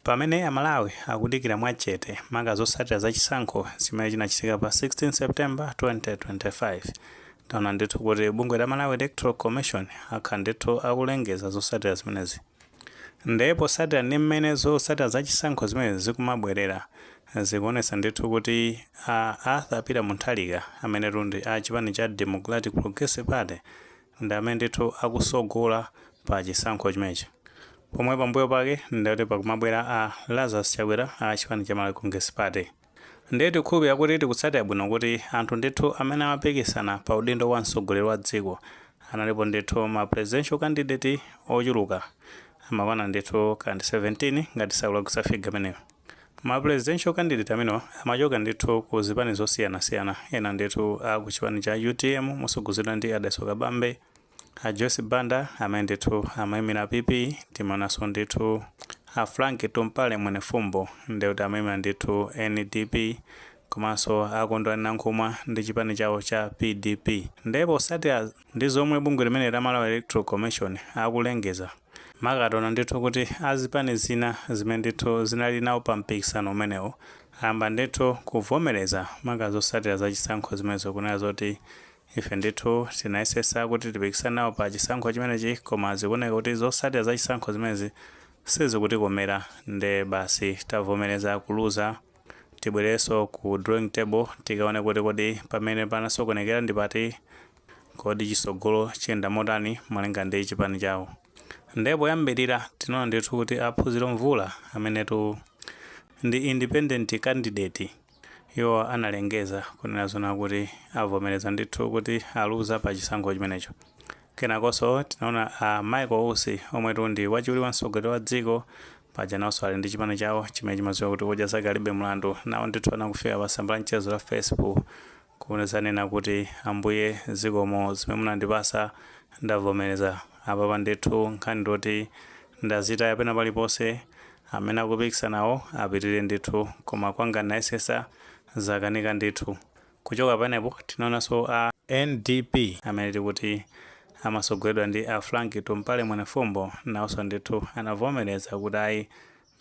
Pamene a Malawi akudikira mwa chete maka zotsatira za chisankho chimene chinachitika pa 16 September 2025, taona ndithu kuti bungwe la Malawi Electoral Commission akhala ndithu akulengeza zotsatira zimenezi. Nde potsatira ndi mmene zotsatira za chisankho zimenezi zikumabwerera, zikuonetsa ndithu kuti a Arthur Peter Mutharika amenetu ndi a chipani cha Democratic Progressive Party, ndi amene ndithu akusogola pa chisankho chimenechi pomwe pambuyo pake ndi kuti pakumabwera a Lazarus Chakwera a chipani cha Malawi Congress Party. Ndiye tikukhulupirira kuti tikutsatira bwino kuti anthu ndithu amene amapikisana pa udindo wa mtsogoleri wa dziko analipo ndithu ma presidential candidate ochuluka amakwana ndithu kaya ndi 17 ngati sindikulakwitsa figure imeneyo. Ma presidential candidate amenewa amachoka ndithu ku zipani zosiyanasiyana, ena ndithu a ku chipani cha utm mosogozedwa ndi a Dalitso Kabambe, a Joyce Banda amene ndithu amayimira PP, timaonanso ndithu a Frank Tumpale Mwenefumbo ndiye kuti amayimira ndithu NDP komanso a Kondwani Nankhumwa ndi chipani chawo cha PDP. Ndiye posatira ndi zomwe bungwe limeneli la Malawi Electoral Commission akulengeza, maka taona ndithu kuti a zipani zina zimene ndithu zinali nawo pa mpikisano umenewu ayamba ndithu kuvomereza maka zotsatira za chisankho zimenezi kunena zoti ife ndithu tinayesesa kuti tipikisane nawo pa chisankho chimenechi koma zikuoneka kuti zotsatira za chisankho zimenezi sizikutikomera nde basi tavomereza kuluza tibwereso ku drawing table tikaone kuti kodi pamene panasokonekera ndi pati Kodi chisogolo chiyenda motani malinga ndi chipani chawo? Nde poyambilira tinaona ndithu kuti a Phunziro Mvula amenetu ndi independent candidate iwo analengeza kunena zoona kuti avomereza ndithu kuti aluza pa chisankho chimenecho. Kenakonso tinaona a Michael Usi omwetu ndi wachiwiri wa mtsogoleri wa dziko paja nawonso ali ndi chipani chawo chimene chimadziwika kuti Odya Zake Alibe Mlandu, nawo ndithu anakafika pa tsamba la mchezo la Facebook kunena kuti ambuye zikomo zimene munandipasa ndavomeleza apapa ndithu nkhani ndioti ndazitaya pena palipose amene akupikisana nawo apitirire ndithu koma kwanga ndayesesa zakanika ndithu kuchoka pamenepo tinaonaso a ndp amene tikuti amasogoledwa ndi a frank tumpale mwenefumbo nawoso ndithu anavomeleza kuti ayi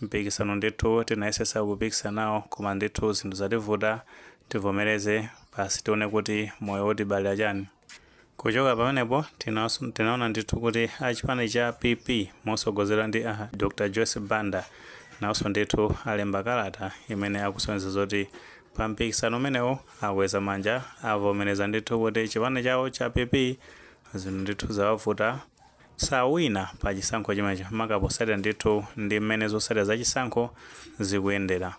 mpikisano ndithu tinayesesa kupikisana nawo koma ndithu zinthu zativuta tivomereze basi tione kuti moyo utibalira chani kuchoka pamenepo tinaso- tinaona ndithu kuti a chipani cha pp mosogozedwa ndi a dr joyce banda nawonso ndithu alemba kalata imene akusonyeza zoti pa mpikisano umenewo akweza manja avomereza ndithu kuti chipani chawo cha pp zinthu ndithu zawavuta sawina pa chisankho chimenecho maka posatira ndithu ndi mmene zosatira za chisankho zikuyendera.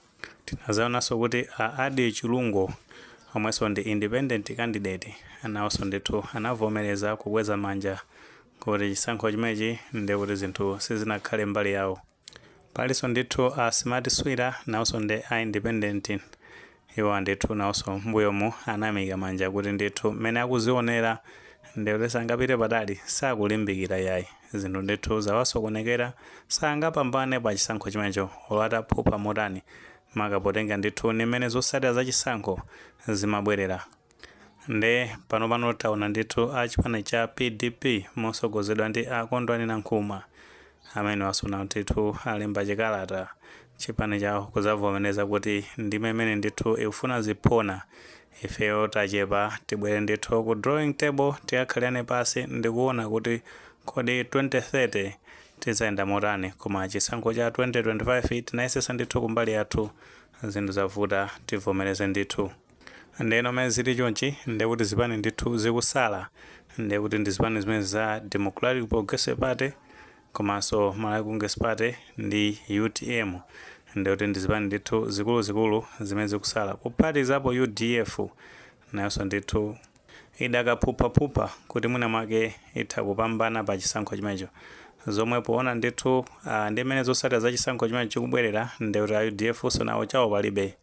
Tinazawonanso kuti a Adil Chilungo omwenso ndi independent candidate nawonso ndithu anavomereza kukweza manja kuti chisankho chimenechi ndekuti zinthu sizinakhale mbali yawo. palinso ndithu a smart swira nawonso ndi a independent iwo ndithu nawonso mbuyomu anaimika manja kuti ndithu mmene akuzionera ndikuti sangapite patali sakulimbikira yayi zinthu ndithu zawasokonekera sangapambane pa chisankho chimenecho olo ataphupha motani maka potenga ndithu ni mmene zotsatira za chisankho zimabwerera nde pano pano taona ndithu a chipani cha pdp mosogozedwa ndi a kondwani nankhumwa amene taona ndithu alemba chikalata chipani chawo kuzavomereza kuti ndime imene ndithu ikufuna ziphona ifeyo tachepa tibwere ndithu ku drawing table tikakhalirane pasi ndikuona kuti kodi 2030 tizayenda motani koma chisankho cha 2025 tinayesesa ndithu kumbali yathu zinthu zavuta tivomereze ndithu Ndeno mmene zili chonchi ndekuti zipani ndithu zikusala ndekuti ndi zipani zimenezi za Democratic Progressive Party komanso Malawi Congress Party ndi utm ndekuti ndi zipani ndithu zikuluzikulu zimene zikusala kuphatikizapo udf nayonso ndithu idakaphuphaphupha kuti mwina mwake itha kupambana pa chisankho chimenecho zomwe poona ndithu ah, ndi mmene zotsatira za chisankho chimenecho chikubwerera ndekuti a udf so nawo chawo palibe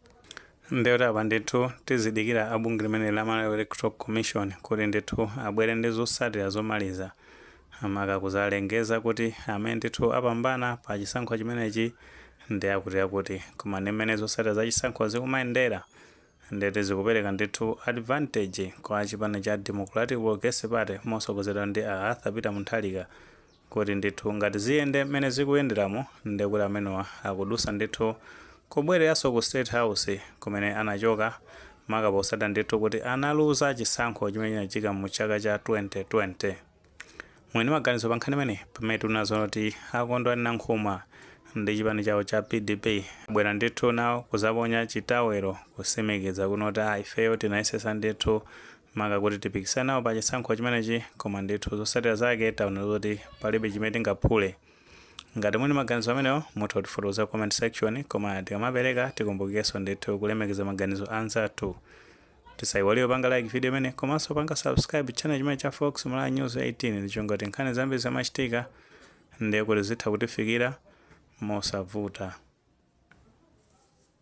ndiye kuti apa ndithu tizidikira a bungwe limene la Malawi Electoral Commission kuti ndithu abwere ndi zotsatira zomaliza maka kuzalengeza kuti amene ndithu apambana pa chisankho chimenechi ndi akuti akuti koma ndi mmene zotsatira za chisankho zikumayendera ndiye kuti zikupereka ndithu advantage kwa chipani cha Democratic Progressive Party mosogozedwa ndi a Arthur Peter Mutharika kuti ndithu ngati ziyende mmene zikuyenderamu nde kuti amenewa akudusa ndithu kubwereranso ku state house kumene anachoka maka posatira ndithu kuti analuza chisankho chimene chinachika mu chaka cha 2020. Muli ndi maganizo pa nkhani imeneyi? Pamene tikuona zoona kuti a Kondwani Nankhumwa ndi chipani chawo cha PDP abwera ndithu nawo kuzaponya chitawelo kusimikiza kuona kuti aah ifeyo tinayesesa ndithu maka kuti tipikisane nawo pa chisankho chimenechi koma ndithu zosatira zake taona zoti palibe chimene tingaphule ngati muli ndi maganizo amenewo mutha kutifotokoza comment section koma tikamapereka tikumbukirenso ndithu kulemekeza maganizo anzathu tisayiwale kupanga like video imene komanso kupanga subscribe channel chimene cha fox malawi news 18 ndi cholinga choti nkhani zambiri zikamachitika ndiye kuti zitha kutifikira mosavuta